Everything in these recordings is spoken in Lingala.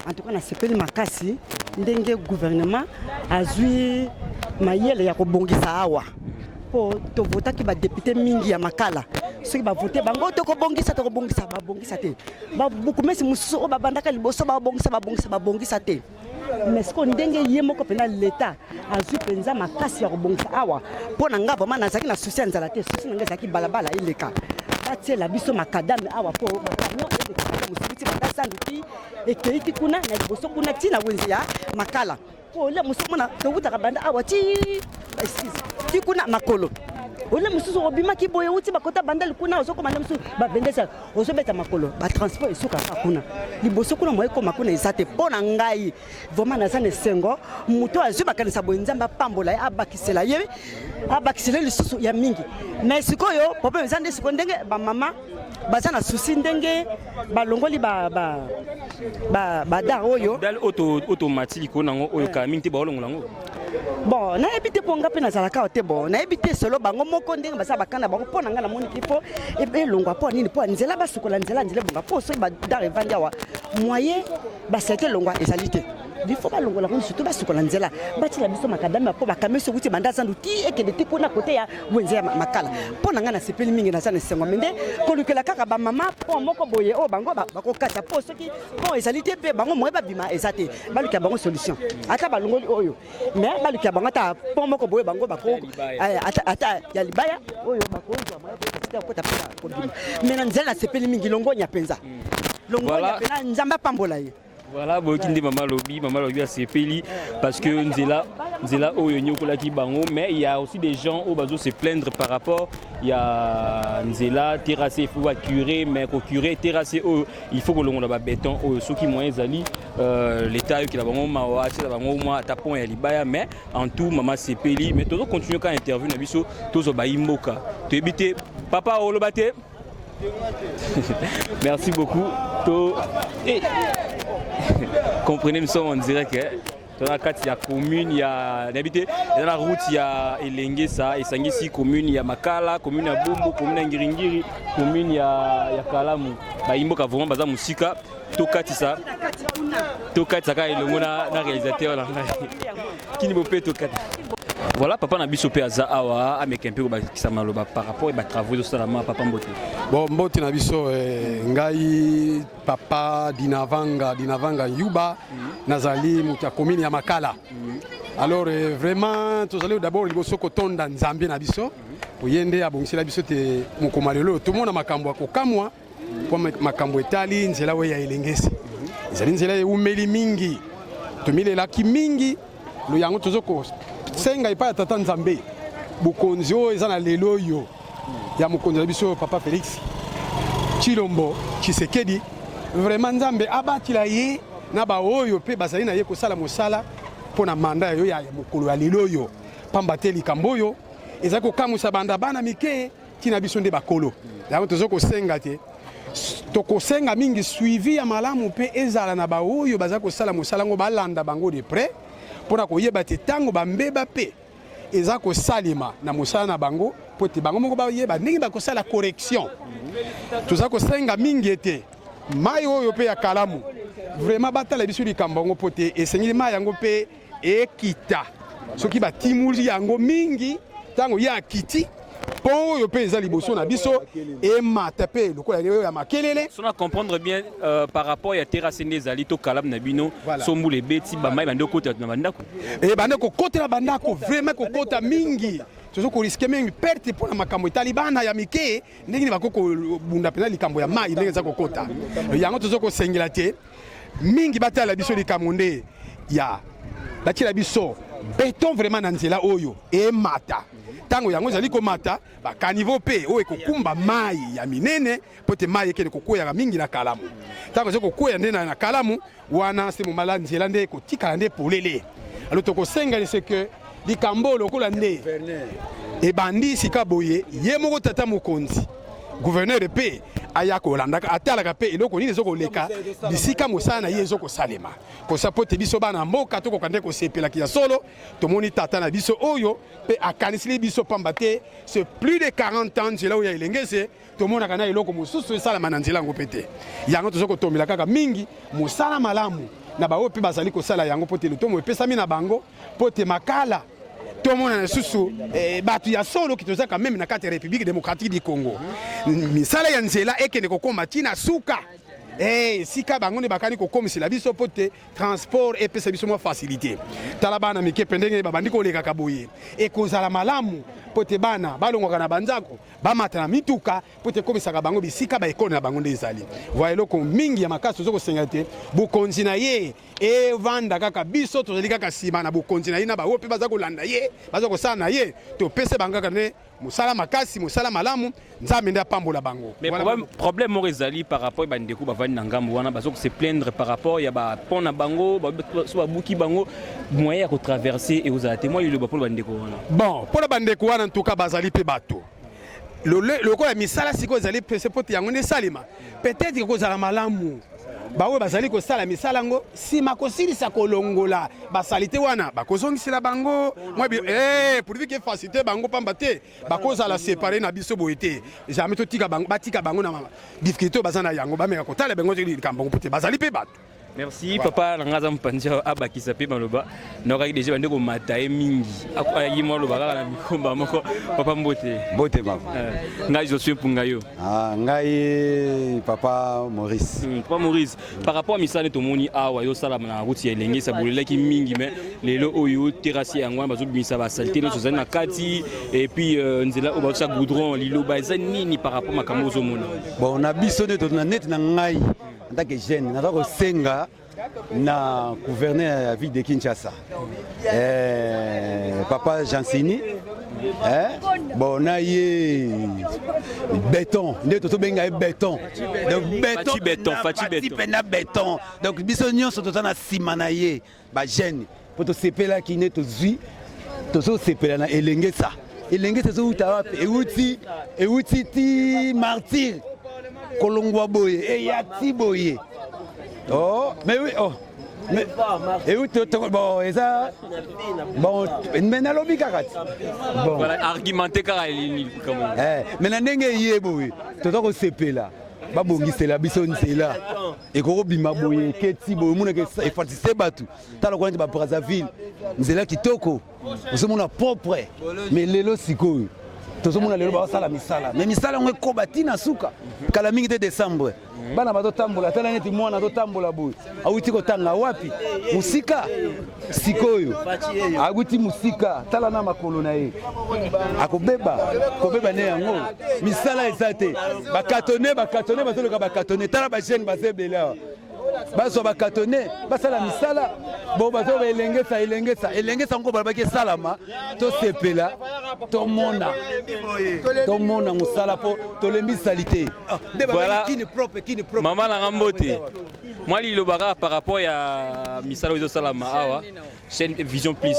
En tout cas, na sepeli makasi ndenge gouvernement azui mayele ya kobongisa awa mpo tovotaki badepute mingi ya makala soki bavote bango tokobongisa tokobongisa babongisa te babukumesi mosusu oyo babandaka liboso babongisa babongisa babongisa te mais sikoyo ndenge ye moko mpenza leta azwi mpenza makasi ya kobongisa awa mpo na ngai vraimen nazalaki na susi ya nzala te susi na ngai ezalaki balabala eleka batiela biso makadame awa mpo makamion elekaka mosibiti banda sandu ti ekei ti kuna na liboso kuna ti na wenze ya makala mpo ole mosu omona towutaka banda awa ti excuse ti kuna makolo ole mosusu obimaki boye outi bakota bandali kuna ozokoma nde mosusu babendesa ozobeta makolo batransport esukaka kuna liboso kuna moyekoma kuna eza te mpo na ngai vraiment naza na esengo moto oyo azwi makanisa boye nzambe apambola ye abakisela ye abakisela ye lisusu ya mingi mais sikoyo problème eza nde sikoyo ndenge bamama baza na susi ndenge balongoli ba, ba, ba, ba dar oyo dal oyo tomati likolo nango oyo kala mingi te baolongola yango bon nayebi te mpo nga mpe nazalaka awa te bon nayebi te solo bango moko ndenge baza bakanda bango mpo na ngai namoni te mpo elongwa mpo nini mpo nzela basukola nzela nzela ebonga mpo soki badar evandi awa moyen basete elongwa ezali te bifo balongola ngo surtout basukola nzela batyela biso makadami ya mpo bakame soki ti banda zandu ti ekende ti kuna kote ya wenze ya makala mpo na ngai nasepeli mingi naza na esengo me nde kolukela kaka bamama pont moko boye oyo bango bakokata mpo soki pont ezali te mpe bango moye babima eza te balukela bango solution ata balongoli oyo mais baluki ya bango ata mpo moko boye bango eh, ata ya libaya oyo bakozwa mokota mpe kobima mais na nzela nasepeli mingi longonya mpenza mm. longonya mpenza nzambe apambola ye voilà boyoki nde mama alobi mama alobi asepeli parce que nzela nzela oyo enyokolaki bango mais il y a aussi des gens oyo bazo se plaindre par rapport ya nzela terrasse il faut ba curé mais ko curé terrasse oyo il faut kolongola ba béton oyo soki moyen ezali Euh, l'État ayokela bango mawa atyela bango mwa ata pont ya libaya mais en tout mama asepeli mais tozo continue kaka interview na biso tozwa bayi mboka toyebi te papa oloba te merci beaucoup to hey. Eh. comprenez nous sommes en direct eh? toza na kati ya commune ya nayebi te eza na route ya elengesa esangisi commune ya makala commune ya bumbu commune ya ngiringiri commune ya, ya kalamu bayimboka vraiment baza mosika tokatisa tokatisa kaka elongo na réalisateur na ngai kini bope tokata voilà papa na biso mpe aza awa ameka mpe kobakisa maloba par rapport ba travaux ezosalama papa mbote bon mbote na biso eh, ngai papa dinavanga dinavanga yuba mm -hmm. nazali moto ya komini ya makala mm -hmm. alors eh, vraiment tozali d'abord liboso kotonda nzambe na biso mm -hmm. oye nde abongisela biso te mokoma lelo tomona makambo ya kokamwa Mpo makambo etali nzela oyo ya elengesi ezali nzela eumeli mingi, tomilelaki mingi lo yango tozo kosenga epai ya Tata Nzambe bokonzi oyo eza na lelo oyo ya mokonzi na biso Papa Felix Tshilombo Tshisekedi, vraiment Nzambe abatila ye na baoyo mpe bazali na ye kosala mosala mpo na manda ya yo ya mokolo ya lelo oyo, mpamba te likambo oyo ezali kokamwisa banda bana mike Tina biso nde bakolo yango tozo kosenga te tokosenga mingi suivi ya malamu mpe ezala na baoyo baza kosala mosala yango balanda bango de près mpo na koyeba te ntango bambeba mpe eza kosalema na mosala na bango mpo ete bango moko bayeba ndenge bakosala correction toza kosenga mingi ete mai oyo mpe ya kalamu vraiment batala biso likambo yango mpo te esengeli mai yango mpe ekita soki batimuli yango mingi ntango ye akiti mpo oyo mpe eza liboso na biso emata mpe lokola oyo ya makelele so na comprendre bien euh, par rapport ya terrasse nde ezali to kalamu na bino voilà. so mbula ebeti bamai bande kokotela na bandako e bande kokotela bandako vraiment kokota mingi tozo koriske mingi perte mpo na makambo etali bana ya mike ndenge nini bakoki kobunda mpenza likambo ya mai ndenge eza kokota yango tozo kosengela te mingi batala biso likambo nde ya batyela biso beton vraiment na nzela oyo emata ntango yango ezali komata bakanivo mpe oyo ekokumba mai ya minene mpo te mai ekende kokweyaka mingi na kalamu ntango ezali kokweya nde na kalamu wana se momala nzela nde ekotikala nde polele alo tokosenga ese ke likambo oyo lokola nde ebandi sika boye ye moko tata mokonzi gouverneur mpe aya kolandaka atalaka mpe eloko nini ezokoleka bisika mosala na ye ezokosalema kosa mpo te biso bana mboka tokoka nde kosepelaki ya solo tomoni tata na biso oyo mpe akanisili biso mpamba te ce plus de 40 ans nzela oyo ya elengese tomonaka na eloko mosusu esalama na nzela yango mpe te yango toza kotombela kaka mingi mosala malamu na baoyo mpe bazali kosala yango mpo te lotomo epesami na bango mpo te makala tomonana lisusu eh, bato ya solo kitozaka meme na kati ya république démocratique du congo misala ya nzela ekende kokoma ntina suka eh, esika hey, bango nde bakani kokomisela biso mpo te transport epesa biso mwa facilité tala bana mike mpe ndenge babandi kolekaka boye ekozala malamu mpo te bana balongwaka na banzako bamata na mituka mpo ete ekomisaka bango bisika baekolo na bango nde ezali voi eloko mingi ya makasi toza kosenga te bokonzi na ye evanda kaka biso tozali kaka nsima na bokonzi na ye na baoyo mpe baza kolanda ye baza kosala na ye topese bango kaka nde mosala makasi mosala malamu nzambe nde apambola bango problème moko ezali par rapport ya bandeko bavandi na ngambo wana baza kose plaindre par rapport ya bapont na bango so babuki bango moyen ya kotraverse ekozala te mwa liloba mpo na bandeko wana bon mpo na bandeko wana ntuka bazali mpe bato lokola misala sikoyo ezali pese mpo te yango nde esalema peut-être ekozala malamu baoyo bazali kosala misala yango nsima kosilisa kolongola basalite wana bakozongisela bango eh, purvike fasite bango mpamba te bakozala separe na biso boye te jamai totika bango batika bango na difficulté oyo baza na yango bameka kotala bango likambo yango mpo te bazali mpe bato Merci papa na ngaza mpanzi abakisa pe maloba nokaki deja bande komata ye mingi akoyaki mwa loba kaka na mikomba moko papa mbote mbote mama eh, ngai josue mpunga yo ah, ngai papa maurice hmm, papa maurice par rapport ya misala nde tomoni awa ezosalama na ruti ya elenge esabolelaki mingi me lelo oyo terasi yango wana bazobimisa basalite nyonso ezali na kati epuis euh, nzela oyo bazosa goudron liloba eza nini par rapport makambo ozomona bon na biso nde neti na ngai En tant que jeune, naza kosenga na gouverneur ya ville de Kinshasa eh, papa Jansini eh, bon na ye beton nde totobenga ye beton donc beton, beton, beton. na beton donc biso nyonso toza na nsima na ye ba jeune po tosepelaki nde tozwi tozosepela na elengesa elengesa ezowuta wapi ewuti ewuti ti martire kolongwa boye eya ti boye oh mais oui oh euti bon eza bon me nalobi kaka ti argumente kaka me na ndenge eye boye toza kosepela babongisela biso nzela ekoki kobima boye eketi boye omonaka efatise bato tala kwana te ba brazzaville nzela kitoko ozomona propre mais lelo sikoyo tozomona lelo basala misala mais misala yango ekoba ti na suka kala mingi te décembre bana bazotambola tala neti mwana azotambola boye awuti kotanga wapi mosika sikoyo awuti mosika tala na makolo na ye akobeba kobeba nde yango misala eza te bakatone bakatone bazoloka bakatone tala bagene baza ebele awa bazwa bakatone basala misala bo bazo elengesa elengesa elengesa yango balobaki esalama tosepela tomona tomona mosala mpo tolembisali te ah, mama nanga mbote mwa liloba kaka par rapport ya misala oyo ezosalama awa chaîne vision plus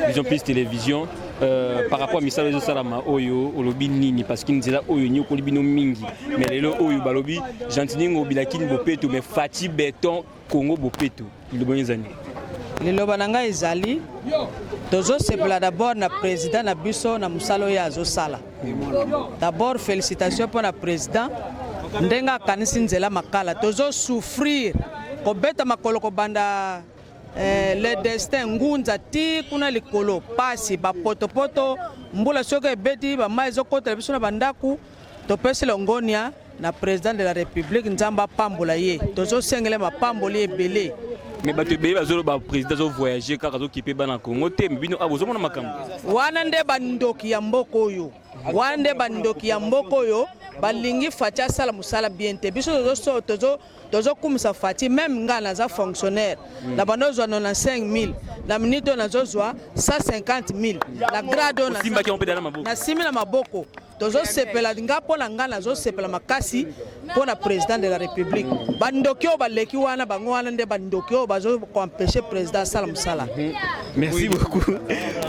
vision plus télévision euh, par rapport ya misala ezosalama oyo olobi nini parce que nzela oyo enyokoli bino mingi mais lelo oyo balobi gentiningo bilakini bopeto mais fati beton congo bopeto liloba oyo ezali liloba na ngai ezali tozosepela dabord na président na biso na mosala oyo azosala D'abord felicitation mpo na president ndenge akanisi nzela makala tozo souffrir kobeta makolo kobanda eh, le destin ngunza ti kuna likolo pasi bapotopoto mbula soki ebeti bamai ezokotela biso na bandako topesi longonia na president de la republique nzambe apambola ye tozosengele mapamboli ebele me bato ebele bazoloba président azovoyage kaka azokipe bana congo te me bino awa ah, bozomona makambo wana nde bandoki ya mboka oyo wana nde bandoki ya mboka oyo balingi fati asala mosala bien te biso tozokumisa fati meme ngai naza fonctionnaire hmm. na banda ozwa 95 000 na minute oyo nazozwa 150 000 na grade oyo nasimbi na maboko tozosepela nga mpo na ngai nazosepela makasi mpo na président de la république bandoki oyo baleki wana bango wana nde bandoki oyo bazokoempeshe président asala mosala mhm. merci beaucoup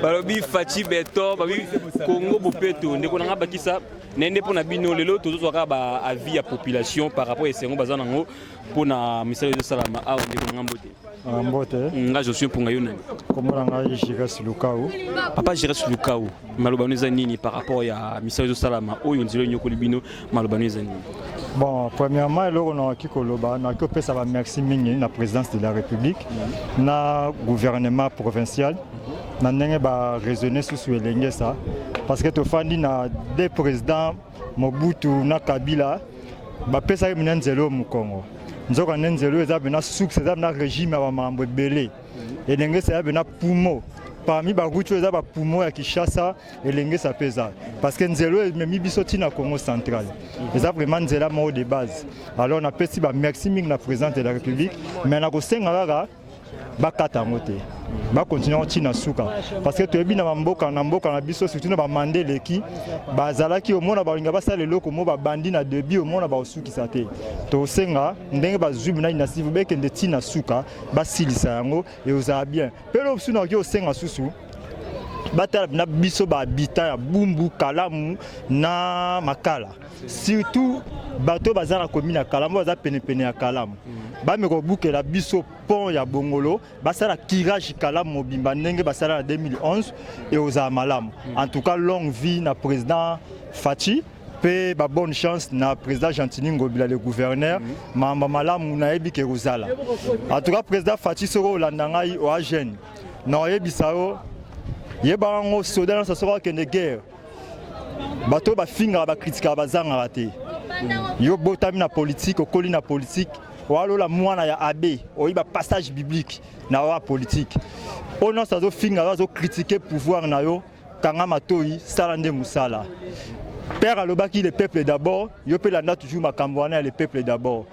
balobi faci beton babi congo bopeto ndeko na ngai bakisa nende mpo na bino lelo tozozwaka baavis ya population par rapport ya esengo baza nango mpo na misala ezosalama awa ndeko na ngai mbote ah, mbote mm, nga josue mpunga yo nani kombo na ngai gires lukau papa gires lukau malobano eza nini par rapport ya misala ezosalama oyo nzela enyokoli bino malobano eza nini bon premièrement eloko nakoki koloba nakoki kopesa bamerci mingi na présidence de la république mm. na gouvernement provincial na ndenge ba raisonner susu elengesa parce que tofandi na deux présidents Mobutu na Kabila bapesaki mpe na nzela oyo mokongo nzoka nde nzela oyo eza mpe na succès eza mpe na régime ya bamambo ebele elengesa ya mpe na pumo parmi baruti oyo eza bapumo ya kinshasa elengesa mpe eza parce que nzela oyo ememi biso ntina congo central eza vraiment nzela moko de base alors napesi bamerci mingi na présidente de la république mais nakosenga kaka bakata yango te bakontinue oti na suka parce que toyebi na bamboka na mboka na biso surtout na bamanda eleki bazalaki omona balinga basala eloko mo babandi na debi omona bakosukisa te tosenga ndenge bazwi bina inasive bekende ti na suka basilisa yango eozala bien mpe eloko mosusu nakoki osenga susu batala na biso bahabitant ya bumbu kalamu na makala surtout bato oyo baza na komi na kalamu baza penepene ya kalamu mm. bameka kobukela biso pont ya bongolo basala kirage kalamu mobimba ndenge basala na 2011 ekozala malamu mm. en tout cas longue vie na président faci mpe babonne chance na président gentini ngobila le gouverneur mm. mamba malamu nayebi ke ekozala en tout cas président faci soki olanda ngai oagene na oyebisa yo yebaka yango soda nyonso soki akende guerre bato oyo bafingaka bakritikaka bazangaka te yo botami na politike okoli na politike walola mwana ya abe oyiba passage biblique na wa politike oyo nyonso azofinga yo azokritike pouvoir na yo kanga matoi sala nde mosala père alobaki le peuple d'abord yo mpe landa toujours makambo wana ya le peuple d'abord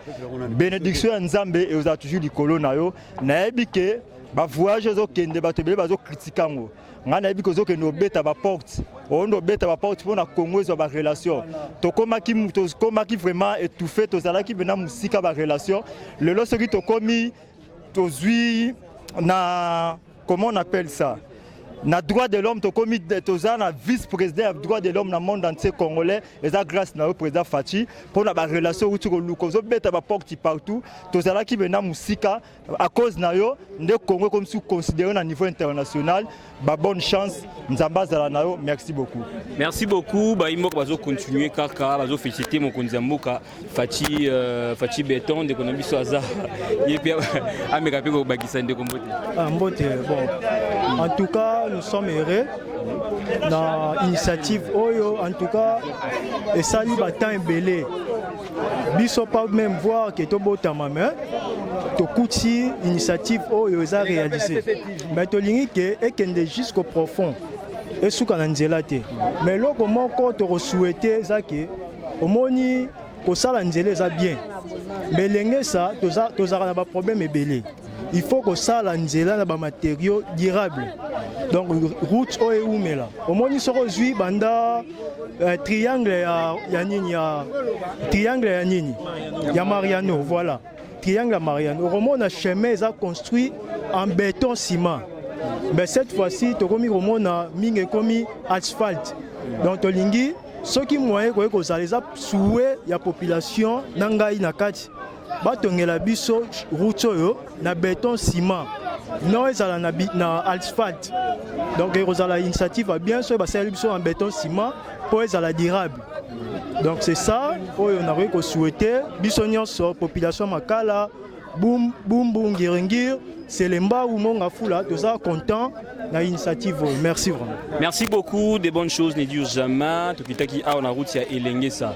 bénédiction ya nzambe ekozala toujours likolo na yo nayebi ke bavoyage ezokende bato ebele bazokritike yango ngai nayebi kozokende obeta baporte oonde obeta baporte mpo na congo ezwa barelation tokomaki tokomaki vraiment étouffe tozalaki mpena mosika barelation lelo soki tokomi tozwi na comment on appelle ça na droit de l'homme tokomi toza na vice président ya droit de l'homme na monde entier congolais eza grâce na yo président faci mpo na barelation outi koluka ozobeta baporte partout tozalaki mpena mosika à cause na yo nde Congo comme si considéré na niveau international ba bonne chance nzambe azala na yo merci beaucoup merci beaucoup ba imoko bazo continuer kaka bazo féliciter mokonzi ya mboka Fatshi euh, Fatshi Beton ndeko na biso aza ye pe ameka pe ko bakisa ndeko mbote ah mbote bon en tout cas nous sommes heureux na initiative oyo en tout cas esali ba temps ebele biso pas même voir que tobotama mais tokuti initiative oyo eza réalisé mais tolingi ke ekende jusqu'au profond esuka na nzela te mais eloko moko tokosouhaite eza ke omoni kosala nzela eza bien mais elengesa tozalaka na baproblème ebele il faut kosala nzela na bamaterio durable donc route oyo ewumela omoni soki ozwi banda uh, triangle ya, ya nini ya triangle ya nini ya mariano voilà triangle ya mariano okomona chemin eza construit en béton ciment mais cette fois-ci tokomi komona mingi ekomi asphalte donc tolingi soki moyen ekoki kozala eza souwe ya population na ngai na kati batongela biso route oyo na beton ciment non ezala na, na asphalte donc ekozala initiative ya bien soki basaleli biso na beton ciment mpo ezala durable donc c'est ça oyo nakoki kosouhaite biso nyonso population makala bumbu ngiringiri C'est le Mbaou Mongafula, nous sommes contents de l'initiative. Merci vraiment. Merci beaucoup, des bonnes choses, ne dire jamais. Tout qui a on a route ya Elengesa.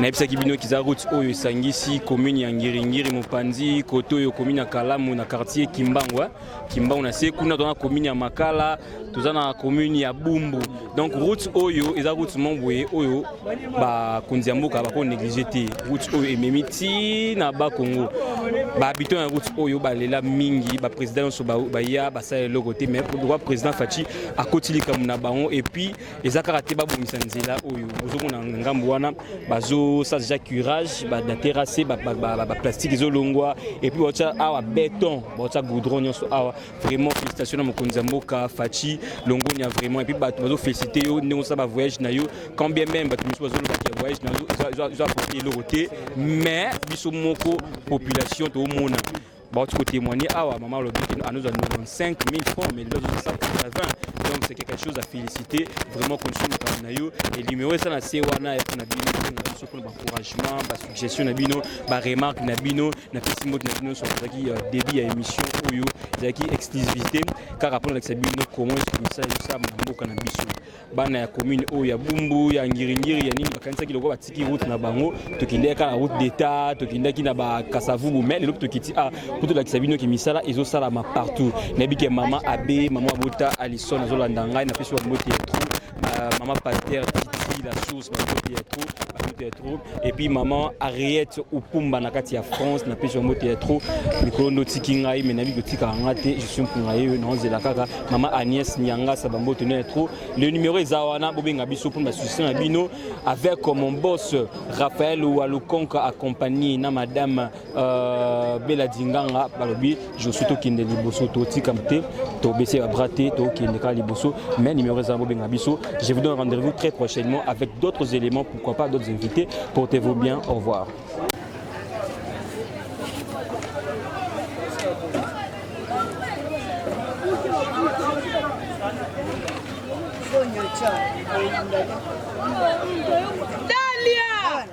Na epsa ki bino kiza route oyo esangisi commune ya Ngiringiri Mupanzi, koto yo commune ya Kalamu na quartier Kimbangu. Kimbangu na se kuna tona commune ya Makala, toza na commune ya bumbu donc route oyo eza route moko boye oyo bakonzi ya mboka bako néglige te route oyo ememi ti na bakongo bahabitant ya route oyo balela mingi baprésident nyonso baya basala eloko te mais pourquoi président faci akoti likambo na bango epuis eza kaka te babongisa nzela oyo ozomona ngambo wana bazosala deja curage baterase baplastique ezolongwa epuis baotya awa beton baotya goudron nyonso awa vraiment félicitations na mokonzi ya mboka faci longonia vraiment epuis bato bazofélicite yo ndenge osala bavoyage na yo quand bien même bato mosusu bazolobaki ya voyage na yo ezo apporte eloko te mais biso moko population toomona bauti kotémoigne awa mama alobi kino anozwa 95 000 francs mais lelo azozwa 180 donc c'est quelque chose à féliciter vraiment condition mokano na yo et numéro eza na se wana ya mpona bino mpona biso mpona baencouragement gestion na bino ba remarque na bino na pesi mbote na bino soki ezalaki euh, début ya émission oyo ezalaki exclusivité kaka mpo nalakisa bino comment esukumisa ezosalama na mboka na biso bana ya commune oyo ya bumbu ya ngiringiri ya nini bakanisaki lokola batiki route na bango tokendaki kaka na route d'état tokendaki na bakasavubu mai lelo tokiti a ah, mpo tolakisa bino ke misala ezosalama partout nayebi ke mama abe mama abota alison azolanda ngai napesi bambote ya trop Euh, maman Pasteur Titi, la source, ma beauté est trop, ma beauté est trop. Et puis maman Ariette Upumba na kati ya France, na pesi mbote ya trop. Mikolo ndo tiki ngai mais nabi kotika nga te, je suis mpunga yeyo na onzela kaka. Maman Agnès Nyanga sa bambote na trop. Le numéro eza wana bobenga biso pour ma soutien na bino avec mon boss Raphaël Walukonka accompagné na madame Euh, bela dinganga balobi josu tokende liboso totika te tobese babra te tokende kaka liboso mais numéro eza bobenga biso je vous donne rendez-vous très prochainement avec d'autres éléments pourquoi pas d'autres invités portez-vous bien au revoir Dalia!